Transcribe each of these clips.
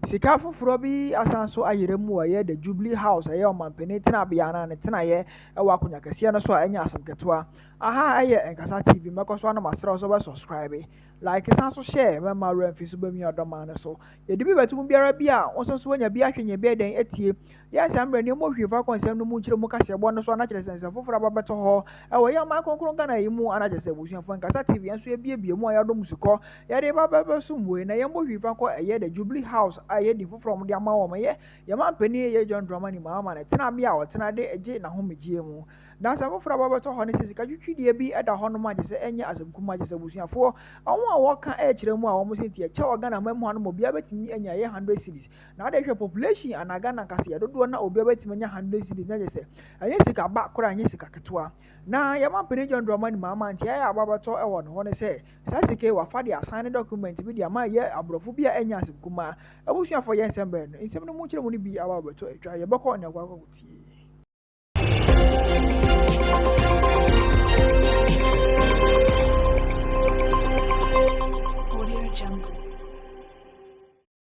Sika foforɔ bi asan so ayera mu a ɛyɛ The Jubilee House a ɛyɛ ɔmampanin tenabea no a ne tenaeɛ wɔ akonnwa kɛseɛ no so a ɛnyɛ asɛm ketewa. Aha yɛ Nkasa TV, mɛkɔ so ano masrɛ wo sɛ wobɛsubscribe, like san so share ma mma werɛ mfi so bɛmia ɔdɔmaa no so. Yɛde bi bɛto mu biara bi a wo nso so woanya bi ahwɛ nyɛ bi ɛdɛn atie. Yɛ saa mmerɛ no, mohwie faako nsɛm no mu nkyerɛ mu kaseɛbɔ no so ana kyerɛ sɛ nsɛm foforɔ aba bɛtɔ hɔ wɔ yɛn ɔman kronkron Ghana yi mu ana kyerɛ sɛ Abusuafoɔ Nkasa TV yɛn nso yɛabiebie mu a yɛadɔ mo sukɔ yɛde reba bɛbɛsom wei na yɛmmɔ hwii fa nkɔ ɛyɛ the Jubilee House a ɛyɛ din foforɔ a wɔde ama wɔn ɛyɛ yɛn manpanin ɛyɛ John Dramani Mahama ne tenabea a ɔtena de gye n'ahomegyeɛ mu na nsɛm foforɔ aba bɛtɔ hɔ ne sɛ sika twitwideɛ bi da hɔ nom a kyerɛ sɛ ɛnyɛ asɛm kumaa kyerɛ sɛ Abusuafoɔ wɔn a wɔka kyerɛ mu a wɔn se nti ɛkyɛ wɔ Ghana man mu ha nom obiara bɛtumi anya ɛyɛ hundred cedis Na wode hwɛ population anaa Ghana kaseɛ dodoɔ na obiara bɛtumi anya hundred cedis na kyɛ sɛ ɛnyɛ sika ba koraa ɛnyɛ sika ketewa na yɛma mpanin John Dramani Mahama nti ɛyɛ aba bɛtɔ ɛwɔ ne ho ne sɛ saa sika yi wafa de asan ne document bi de ama yɛ aborɔfo bi a ɛnyɛ asɛm kumaa abusuafoɔ yɛ nsɛm bɛn no nsɛm no mu nkyerɛmu no bi aba bɛtɔ atwa yɛbɛkɔ ne akɔ akɔ tie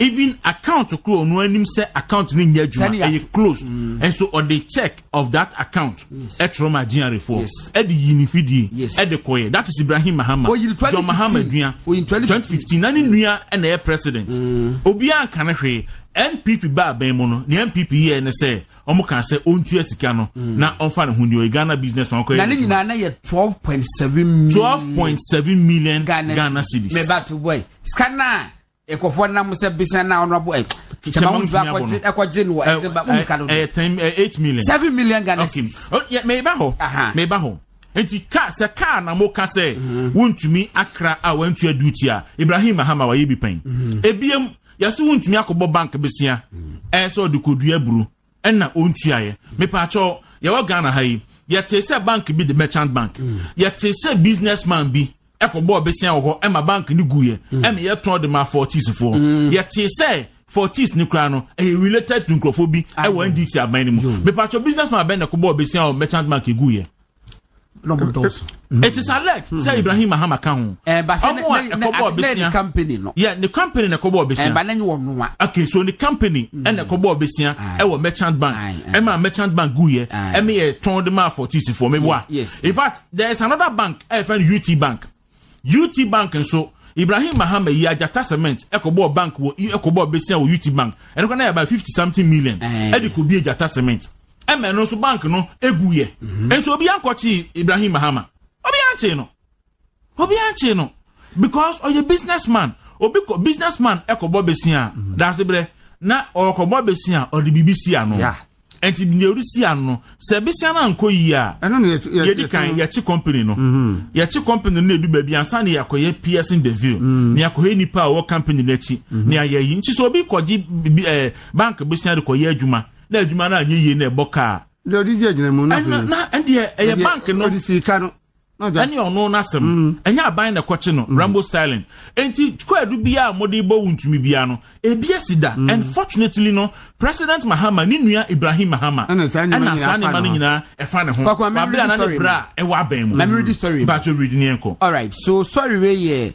even account koro ɔno anim sɛ account no nyɛ adwuma ɛyɛ close mm. ɛnso ɔde check of that account ɛtwerɛ ma gyinare foɔ ɛde yi ne fidie ɛde kɔyɛ that is ibrahim mahama john mahama dua 2015 na ne mm. nua ɛna ɛyɛ president mm. obiara nka ne hwee npp baa bɛn mu no ne npp yɛ ne sɛ wɔn kan sɛ ɔntua sika no na ɔnfa ne ho ni ɔyɛ ghana business man kɔyɛ na ne nyinaa na yɛ twelve point seven million twelve point seven million ghana cedis mɛ ba to boy sika naa. ekɔfɔ nam sɛ bisɛn na ɔno abo ɛ kyɛmɛ ɔmo ntumi abɔ no ɛkɔ gye no wɔ ɛsɛ ba ɔmo sika no ɛyɛ ten ɛ eight million seven million ghana okay ɔyɛ mɛ eba hɔ mɛ eba hɔ nti kaa sɛ kaa na mo ka sɛ mhm. wontumi akra a wɔntua duty a ibrahim mahama wɔyɛ bi pɛn mhm. ebiem yɛsɛ wontumi akɔbɔ bank besia mhm. ɛyɛ sɛ ɔde kɔdua aburo ɛna ɔntuaeɛ mepaakyɛw yɛwɔ ghana ha yi yɛtee sɛ bank bi de merchant bank mm. yɛtee sɛ business man bi ɛkɔbɔɔ bɛsia wɔ hɔ ɛma bank no guiɛ mm. ɛna yɛtɔn de ma fortisfoɔ mm. yɛtee sɛ fortis ne koraa no ɛyɛ related to nkurɔfoɔ bi ɛwɔ ndc aban no mu mepaakyɛw business man abɛn na ɛkɔbɔɔ bɛsia wɔ merchant bank ɛguiɛ Mm. it is alleged mm. sɛ ibrahim mahama ka ho eh, ɔmo a ɛkɔbɔ ɔbɛsia yɛ ne company na ɛkɔbɔ ɔbɛsia eh, okay so ne company mm. ɛna ɛkɔbɔ ɔbɛsia ɛwɔ merchant bank ɛma merchant bank gu yɛ ɛmi yɛ tɔn de ma for tisifoɔ mi wa in fact there is another bank ɛfɛn ut bank. UT Bank nso, Ibrahim Mahama yi Agyata Cement kɔbɔɔ bank wɔ kɔbɔɔ besia wɔ UT Bank. Ɛno kora na yɛ about fifty something million ɛde kɔbie Agyata Cement. Ɛma ɛno nso bank no eguiɛ. Mhm. Nso obi ankɔkye Ibrahim Mahama. Obi ankye no. Obi ankye no because ɔyɛ businessman. Obi kɔ businessman ɛkɔbɔ besia. Mhm. Daase brɛ na ɔkɔbɔ besia ɔde biribi si ano. Yeah. nti nea ɔresi ano no sɛ bisia no ankɔ yie a yɛdi kan yɛkye company no mhm. yɛkye company no na edu baabi ansa na yɛakɔyɛ piercing the veil mhm. na yɛakɔyɛ nipa a ɔwɔ company no akyi mhm. na yɛayɛ yi nti sɛ obi kɔgye ɛɛ eh, bank bisia de kɔyɛ adwuma na adwuma no anyɛ yie na ɛbɔ kaa. deɛ ɔde di agyinamu no. ɛna na ɛdeɛ ɛyɛ bank no. ɔde sika no. ɛne ɔno n'asɛm ɛnyɛ aban na ɛkɔkye no rambo styling nti kwaadu biara a wɔde bɔ wo ntumi biara no ebi asi da and fortunately no president mahama ne nua ibrahim mahama ɛna saa nneɛma no nyinaa ɛfa ne ho wabere ana ne bere a ɛwɔ abɛn mu baato redi ne yɛn kɔ. alright so sɔre wei yɛ.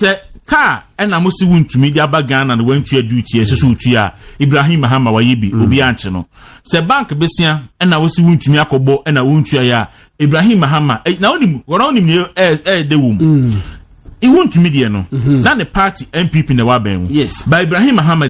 sɛ kaa ɛna mo si wontumi de aba ghana na wantua duty ɛsɛ so wotua ibrahim mahama wayɛ bi mm. obi ankye no sɛ bank besia ɛna wosi wontumi akɔbɔ ɛna wontua yɛ a ibrahim mahama eh, na wonim wɔn a wonim yɛ ɛɛ ɛyɛ de wɔm iwontumi deɛ no mm-hmm. na ne party npp na ɛwɔ abɛn mu ba ibrahim mahama.